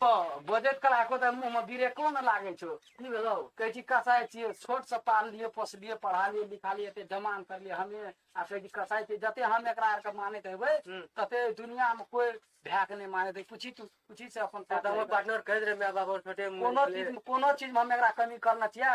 हँ बजैत कला एको तऽ मुँहमे बिरेको ने लागै छौ की भेलौ कहै छी कसाइ छियै छोटसँ पाललियै पोसलियै पढ़ालियै लिखालियै एते जमान करलियै हमे आ कहै छी कसाइ छियै जते हम एकरा आरके मानैत हेबै हूँ। तते दुनियामे कोइ भएके नहि मानैत है कुछ तू कुछ से अपन तऽ हमर पार्टनर कहैत रहे माय बाप और छोटे कोनो चीज कोनो चीजमे हम एकरा कमी करने छियै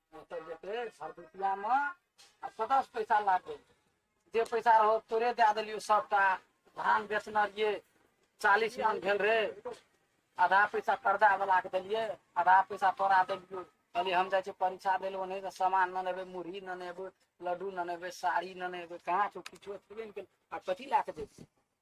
ओतऽ जेतै भरदुतियामे आ कतऽसँ पैसा लागतै जे पैसा रहो तोरे दए देलियौ सभटा धान बेचने रहियै चालीस मन भेल रे आधा पैसा कर्जा वाला के देलियै आधा पैसा तोरा देलियौ कहलियै हम जाइ छियै परीक्षा देल ओने से सामान न नेबै मुरही न नेबै लड्डू न नेबै साड़ी न नेबै कहाँ छौ किछो छेबे ने केलै आ कथी लए कऽ जेबै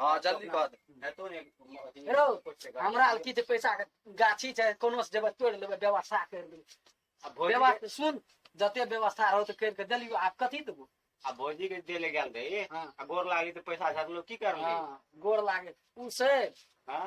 हाँ जल्दी कह दे रो हमरा की जे पैसा के गाछी छै कोनो से जेबै तोड़ लेबै व्यवस्था कर दे व्यवस्था सुन जते व्यवस्था रहो तो कर के देलियो आप कथी देबो आ भौजी के दे ले गेल रही हाँ। आ गोर लागी तो पैसा झाड़ लो की कर हाँ गोर लागे उ से हाँ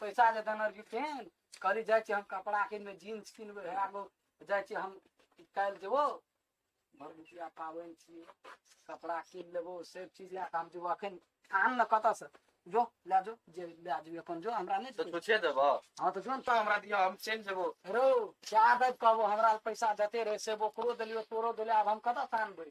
पैसा जे देने रही फेन कहली जाइ छी हम कपड़ा किनबै जीन्स किनबै हेरा गो जाइ छी हम काल्हि जेबो भरदुतिया पाबनि छियै कपड़ा कीन लेबो सब चीज लए कऽ हम जेबो अखन आन ने कतऽसँ जो लए जो जे लए जेबी अपन जो हमरा नहि तो छै। छुछे देबो हँ तऽ जो ने तो हमरा दियो हम चलि जेबो रौ क्या देब कहबो हमरा पैसा देते रहे से ओकरो देलियो तोरो देलियो आब हम कतऽ से आनबै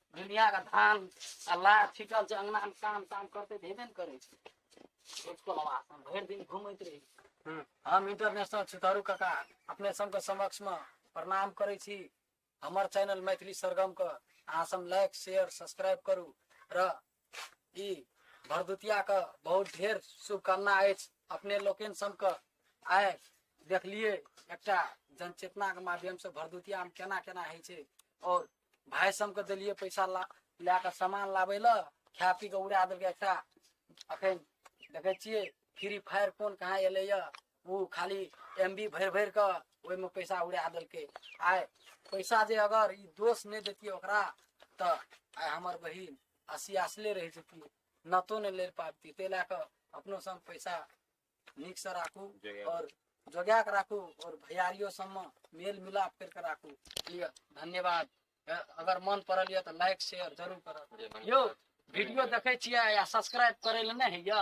दुनिया का धान आ लार छिटल छै अंगना में काम ताम करते तऽ हेबे ने करै छै उसको आवाज हम भरि दिन घूमैत रही हम्म। हम इंटरनेशनल सितारू काका अपने सबके समक्ष में प्रणाम करै छी हमर चैनल मैथिली सरगम के अहाँ सब लाइक शेयर सब्सक्राइब करू र ई भरदुतिया के बहुत ढेर शुभकामना अछि अपने लोकनि सबके आइ देखलिए एकटा जनचेतना के माध्यम से भरदुतिया में केना केना होइ छै और भाय समके देलियै पैसा ला लए कऽ सामान लाबै लए खा पी कऽ उड़ा देलकै एकटा अखन देखै छियै फ्री फायर कोन कहाँ एलैए ओ खाली एम बी भरि भरि कऽ ओहिमे पैसा उड़ा देलकै आइ पैसा जे अगर ई दोष नहि देतियै ओकरा तऽ आइ हमर बहिन असियासले रहि जेतियै नतो नहि ले पाबतियै ताहि लए कऽ अपनोसँ हम पैसा नीकसँ राखू आओर जोगा कऽ राखू आओर भैयारियो सबमे मेल मिलाप करि कऽ राखू ठीक है धन्यवाद अ- अगर मन पड़ल यऽ तऽ लाइक शेयर जरूर करब यौ वीडियो देखै छियै आ सब्सक्राइब करै लए नहि होइया